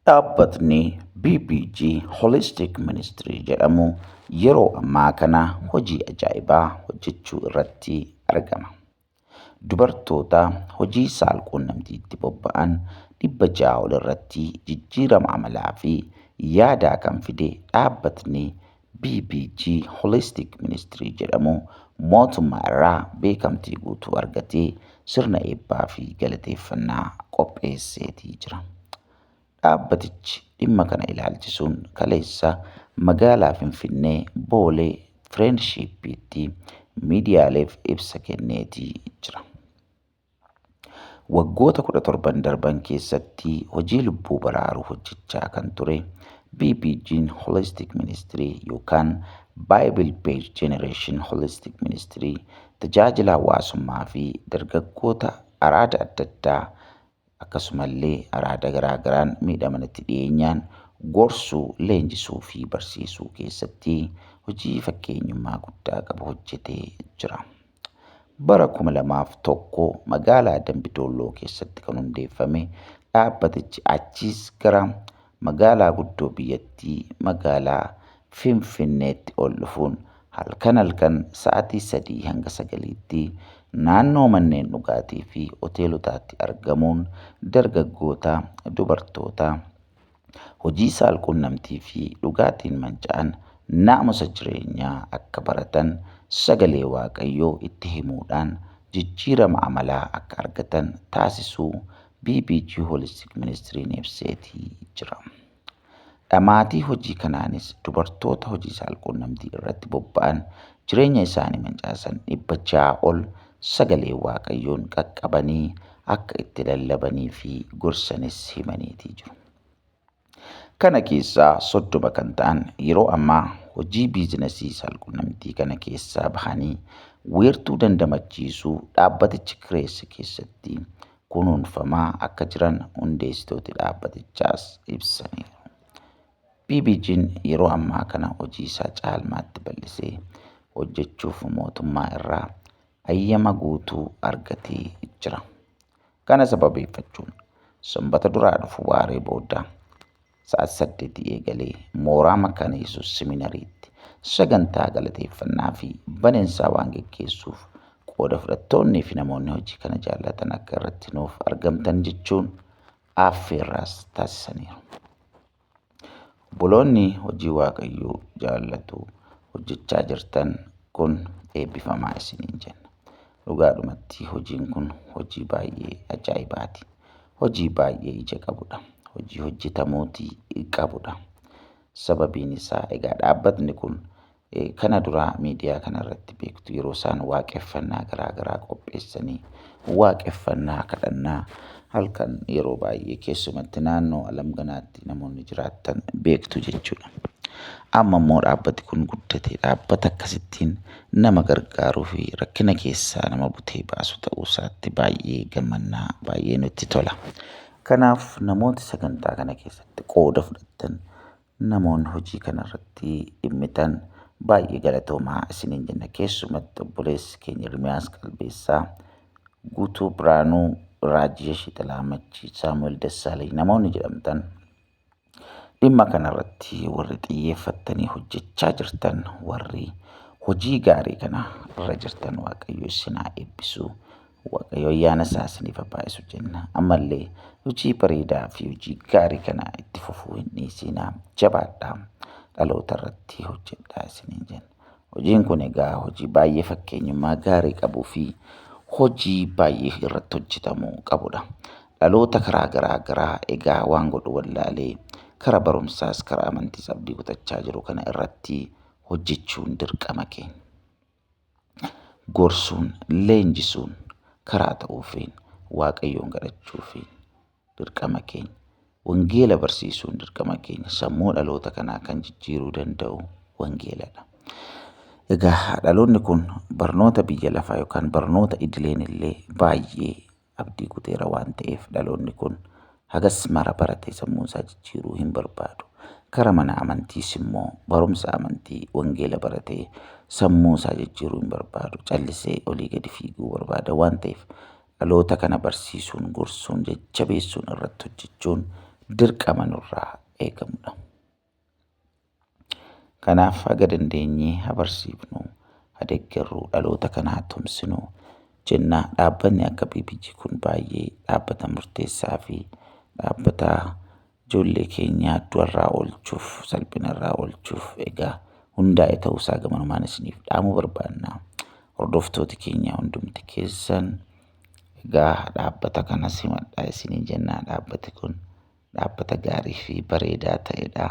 Dhaabbatni BBG Holistic Ministry jedhamu yeroo ammaa kana hojii ajaa'ibaa hojjechuu irratti argama. Dubartoota hojii saalquunnamtiitti bobba'an dhibba ja'a ol irratti jijjiirama amalaa fi yaadaa kan fide dhaabbatni BBG Holistic Ministry jedhamu mootummaa irraa beekamtii guutuu argatee sirna eebbaa fi galateeffannaa qopheesseetii jira. Dhaabbatichi dhimma kana ilaalchisuun kaleessa magaalaa Finfinnee Boolee Friendshippiitti miidiyaaleef ibsa kenneetii jira. Waggoota 17n darban keessatti hojii lubbuu baraaruu hojjechaa kan ture BBG'n Holistic Ministry yookaan Bible Based Generation Holistic Ministry tajaajila hawaasummaa fi dargaggoota araada adda addaa akkasumallee araada garaa garaan miidhamanitti dhiyeenyaan gorsuu, leenjisuu fi barsiisuu keessatti hojii fakkeenyummaa guddaa qabu hojjetee jira. Bara 2001 magaalaa Dambi Doolloo keessatti kan hundeeffame dhaabbatichi achiis gara magaalaa guddoo biyyattii magaalaa Finfinneetti ol dhufuun halkan halkan sa'atii 3 hanga 9tti naannoo manneen dhugaatii fi hoteelotaatti argamuun dargaggoota, dubartoota, hojii saalquunnamtii fi dhugaatiin manca'an naamusa jireenyaa akka baratan sagalee Waaqayyoo itti himuudhaan jijjiirama amalaa akka argatan taasisuu BBG Holistic Ministriin ibseetii jira. Dhamaatii hojii kanaanis dubartoota hojii saalquunnamtii irratti bobba'an jireenya isaanii mancaasan dhibba ja'a ol sagalee Waaqayyoon qaqqabanii akka itti lallabanii fi gorsanis himaniitii jiru. Kana keessaa soddoma kan ta'an yeroo ammaa hojii biizinasii saalqunnamtii kana keessaa bahanii weertuu dandamachiisuu dhaabbatichi kireesse keessatti kunuunfamaa akka jiran hundeessitooti dhaabbatichaas ibsaniiru. BBG'n yeroo ammaa kana hojiisaa caalmaatti bal'isee hojjechuuf mootummaa irraa ayyama guutuu argatee jira. Kana sababeeffachuun Sanbata duraa dhufu waaree booda sa'aatii saddeetii eegalee mooraa Makaana Yesuus Siminariitti sagantaa galateeffannaa fi baneensaa waan geggeessuuf qooda fudhattoonnii fi namoonni hojii kana jaallatan akka irratti nuuf argamtan jechuun affeerraas taasisaniiru. Obboloonni hojii Waaqayyoo jaallatu hojjechaa jirtan kun eebbifamaa isiniin jenna. Dhugaadhumatti hojiin kun hojii baay'ee ajaa'ibaati. Hojii baay'ee ija qabudha. Hojii hojjetamuuti qabudha. Sababiin isaa egaa dhaabbatni kun Kana dura miidiyaa kana irratti beektu yeroo isaan waaqeffannaa garaa garaa qopheessanii waaqeffannaa kadhannaa halkan yeroo baay'ee keessumatti naannoo alamganaatti namoonni jiraattan beektu jechuudha. Amma immoo dhaabbati kun guddatee dhaabbata akkasittiin nama gargaaruu fi rakkina keessaa nama butee baasu ta'uu isaatti baay'ee gammannaa baay'ee nutti tola. Kanaaf namooti sagantaa kana keessatti qooda fudhattan Namoon hojii kana irratti dhimmitan baay'ee galatoomaa isiniin jenna. Keessumatti obboleessi keenya Ermiyaas Qalbeessaa, Guutuu Biraanuu, Raajiyesh Ixalaamachii, Saamu'el Dassaalany namoonni jedhamtan dhimma kana irratti warri xiyyeeffattanii hojjechaa jirtan warri hojii gaarii kana irra jirtan Waaqayyo isin haa eebbisu. Waaqayyo ayyaana isaa isiniif haa baay'isu jenna. Ammallee hojii bareedaa fi hojii gaarii kana itti fufuu hin dhiisinaa. Jabaadhaa. Dhaloota irratti hojjedhaa isiniin jenna. Hojiin kun egaa hojii baay'ee fakkeenyummaa gaarii qabuu fi hojii baay'ee irratti hojjetamuu qabudha. Dhaloota karaa garaa garaa egaa waan godhu wallaalee karaa barumsaas karaa amantiis abdii kutachaa jiru kana irratti hojjechuun dirqama keenya. gorsuun, leenjisuun karaa ta'uufiin Waaqayyoon kadhachuufiin dirqama keenya. Wangeela barsiisuun dirqama keenya. Sammuu dhaloota kanaa kan jijjiiruu danda'u wangeeladha. Egaa dhaloonni kun barnoota biyya lafaa yookaan barnoota idileen illee baay'ee abdii kuteera waan ta'eef dhaloonni kun hagas mara baratee sammuun isaa jijjiiruu hin barbaadu. Kara mana amantiis immoo barumsa amantii wangeela baratee sammuu isaa jijjiiruu hin barbaadu. Callisee olii gadi fiiguu barbaada waan ta'eef dhaloota kana barsiisuun, gorsuun, jajjabeessuun irratti hojjechuun dirqama nurraa eegamudha. Kanaaf haga dandeenye haa barsiifnu, haa deeggarru, dhaloota kana haa tumsinu jenna. Dhaabbanni akka BBG kun baay'ee dhaabbata murteessaa fi dhaabbata ijoollee keenya du'arraa oolchuuf, salphinarraa oolchuuf egaa hundaa'e ta'uusaa gamanumaan isiniif dhaamuu barbaanna. Hordoftooti keenya hundumti keessan egaa dhaabbata kana simadhaa isiniin jenna. Dhaabbati kun. dhaabbata gaarii fi bareedaa ta'edha.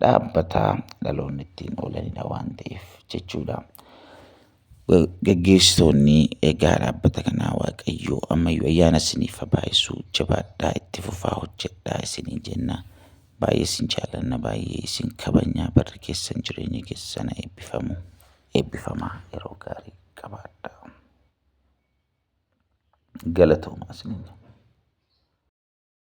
Dhaabbata dhaloonni ittiin oolanidha waan ta'eef jechuudha. Gaggeessitoonni egaa dhaabbata kanaa Waaqayyo ammayyuu ayyaana isiniif haa baay'isu jabaadhaa itti fufaa hojjedhaa isiniin jenna. Baay'ee isin jaallanna baay'ee isin kabajna barri keessan jireenyi keessan haa eebbifamu. Eebbifamaa yeroo gaarii qabaadhaa. Galatoomaa isiniin jenna.